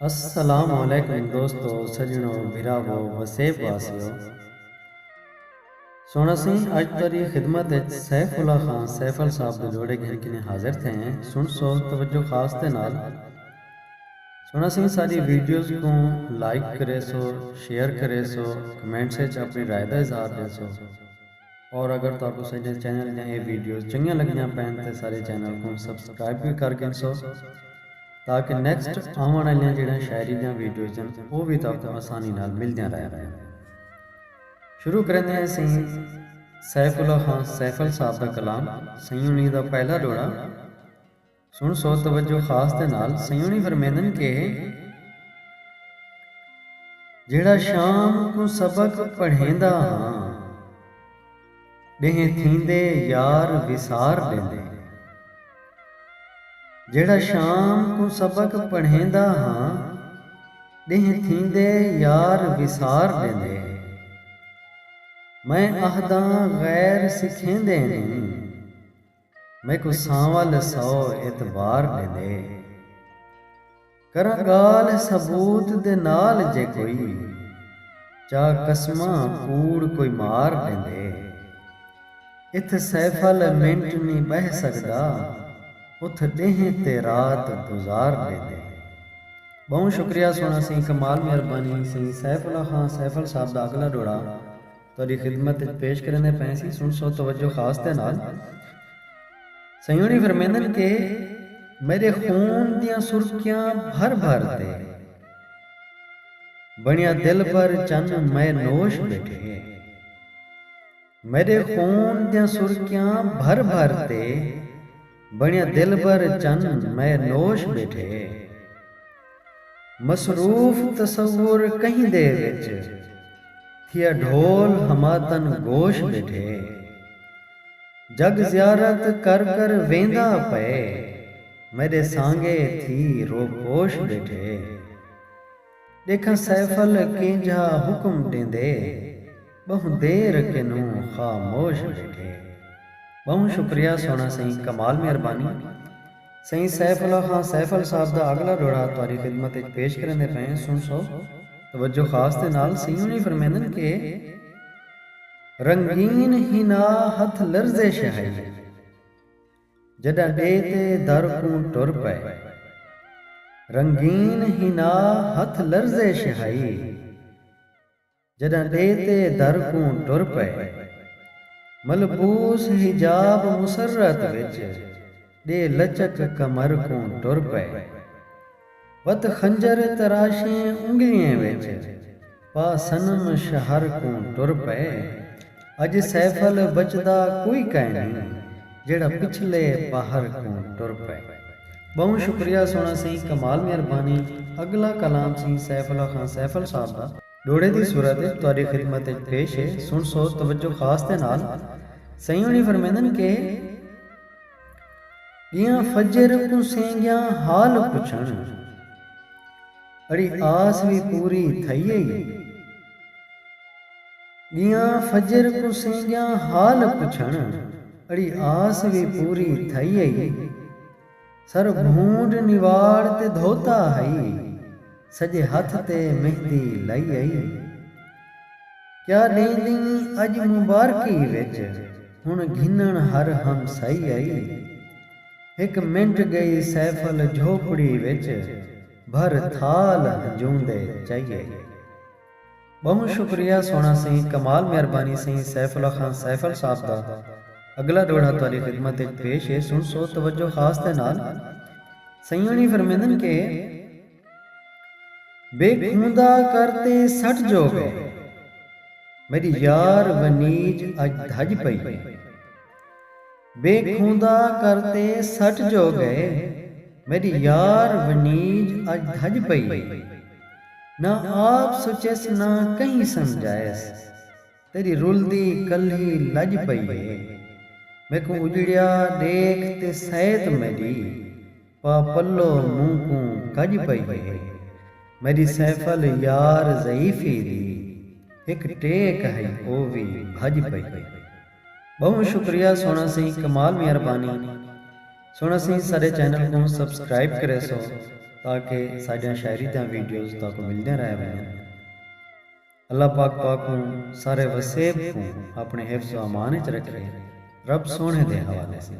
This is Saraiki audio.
السلام علیکم دوستو سجنو بھراوو وسیب واسیو سنڑ اسیں اج تہاڈی خدمت اچ سیف اللہ خان سیفل صاحب دے جوڑے گھن کنیں حاضر تھئے ہیں سنڑسو توجہ خاص دے نال سنڑ اسیں ساڈی ویڈیوز کوں لائک کریسو شیئر کریسو کمنٹس اچ اپنی رائے دا اظہار ڈیسو۔ اور اگر تہاکوں ساڈے چینل دیاں اے ویڈیوز چنگیاں لگدیاں پئن تے ساڈے چینل کوں سبسکرائب وی کر گھنسو تاکہ نیکسٹ آوݨ آلیاں جیڑھیاں شاعری دیاں ویڈیوز ہن او وی تہاکوں آسانی نال ملدیاں رہ ونڄن۔ شروع کریندے ہیں سئیں سیف اللہ خان سیفل صاحب دا کلام سئیں انہی دا پہلا ݙوہڑا۔ سݨ سو توجہ خاص دے نال سیوݨی فرمیندن کہ جیڑھا شام کوں سبق پڑھیندا ہاں ݙینہہ تھیندے یار وسار ݙیندے جیڑھا شام کوں سبق پڑھیندا ہاں ݙینہہ تھیندے یار وسار ݙیندے میں آہداں غیر سکھیندے نی میکوں سانول ہے سو اعتبار ݙیندے۔ کراں ڳالھ ثبوت دے نال جے کوئی۔ چا قسماں کوڑ کوئی مار ݙیندے۔ اتھ سیفل ہے منٹ نی ٻہہ سڳدا۔ اتھ ݙینہہ تے رات گزار ݙیندے۔ ٻہوں شکریہ سوہݨا سئیں کمال مہربانی سئیں سیف اللہ خان سیفل صاحب دا اڳلا ݙوہڑا۔ تہاݙی خدمت اچ پیش کریندے پئے ہسی، سݨسو توجہ خاص دے نال۔ سئیں ہوݨی فرمیندن کہ میݙے خون دیاں سرکیاں بھر بھر تے بݨیا دلبر چن مئے نوش ٻیٹھے ہے۔ میݙے خون دیاں سرکیاں بھر بھر تے۔ بݨیا دلبر چن مئے نوش ٻیٹھے۔ مصروف تصور کہیں دے وچ تھیا ڈھول ہماتن گوش ٻیٹھے۔ جگ زیارت کر کر ویندا پئے میݙے سانگے تھی روپوش ٻیٹھے۔ ݙیکھاں سیفل کینجھا حکم ݙیندے۔ ٻہوں دیر کنوں خاموش ٻیٹھے۔ ٻہوں شکریہ سوہݨا سئیں کمال مہربانی سئیں سیف اللہ خان سیفل صاحب دا اڳلا ݙوہڑا تہاݙی خدمت اچ پیش کریندے پئے ہیں سݨ سو توجہ خاص دے نال سئیں انہی فرمیندن کہ رنگین حنا ہتھ لرزش ہئی۔ جݙاں ݙے تے در کوں ٹر پئے۔ رنگین حنا ہتھ لرزش ہئی۔ جݙاں ݙے تے در کوں ٹر پئے۔ ملبوس حجاب مسرت وچ ݙے لچک کمر کوں ٹر پئے۔ وت خنجر تراشیں انگلیں وچ پا صنم شہر کوں ٹر پئے اج سیفل بچدا کوئی کائنی جیڑھا پچھلے پہر کوں ٹر پئے ٻہوں شکریہ سوہݨا سئیں کمال مہربانی اڳلا کلام سئیں سیف اللہ خان سیفل صاحب دا ݙوہڑے دی صورت وچ تہاݙی خدمت وچ پیش ہے سݨسو توجہ خاص دے نال سئیں ہوݨی فرمیندن کہ۔ ڳیاں فجر کوں سینگیاں حال پچھݨ۔ اڑی آس وی پوری تھئی ہئی۔ ڳیاں فجر کوں سینگیاں حال پچھݨ۔ اڑی آس وی پوری تھئی ہئی۔ سر بھونڈ نواڑ تے دھوتا ہئی۔ سڄے ہتھ تے مہندی لئی ہئی۔ کیا ݙینہہ ݙینہہ اڄ مبارکی وچ ہݨ گھنݨ ہر ہم سائی آئی ہک منٹ ڳئی سیفل جھوپڑی وچ بھر تھال ہنجوں دے چائی آئی ٻہوں شکریہ سوہݨا سئیں کمال مہربانی سئیں سیف اللہ خان سیفل صاحب دا اڳلا ݙوہڑا تہاݙی خدمت وچ پیش ہے سݨسو توجہ خاص دے نال سئیں ہوݨی فرمیندن کہ۔ بے کھوندا کر تے سٹ جو گئے۔ میڈی یار ونیج اج دھج پئی ہے۔ بے کھوندا کر تے سٹ جو گئے۔ میڈی یار ونیج اج دھج پئی ہے۔ نہ آپ سچیس نہ کہیں سمجھائیس۔ تیݙی رلدی کلھی لڄ پئی ہے میکوں اجڑیا ݙیکھ تے سئیت میݙی پا پلو مونہہ کوں کڄ پئی ہے میݙی سیفل یار ضعیفی دی ہک ٹیک ہئی او وی بھڄ پئی ہے ٻہوں شکریہ سوہݨا سئیں کمال میاں ربانی سوہݨا سئیں ساݙے چینل کوں سبسکرائب کریسو تاکہ ساݙیاں شاعری دیاں ویڈیوز تہاکوں ملدیاں رہ ونڄن۔ اللہ پاک تہاکوں سارے وسیب کوں اپݨے حفظ و امان اچ رکھے رب سوہݨے دے حوالے سیں۔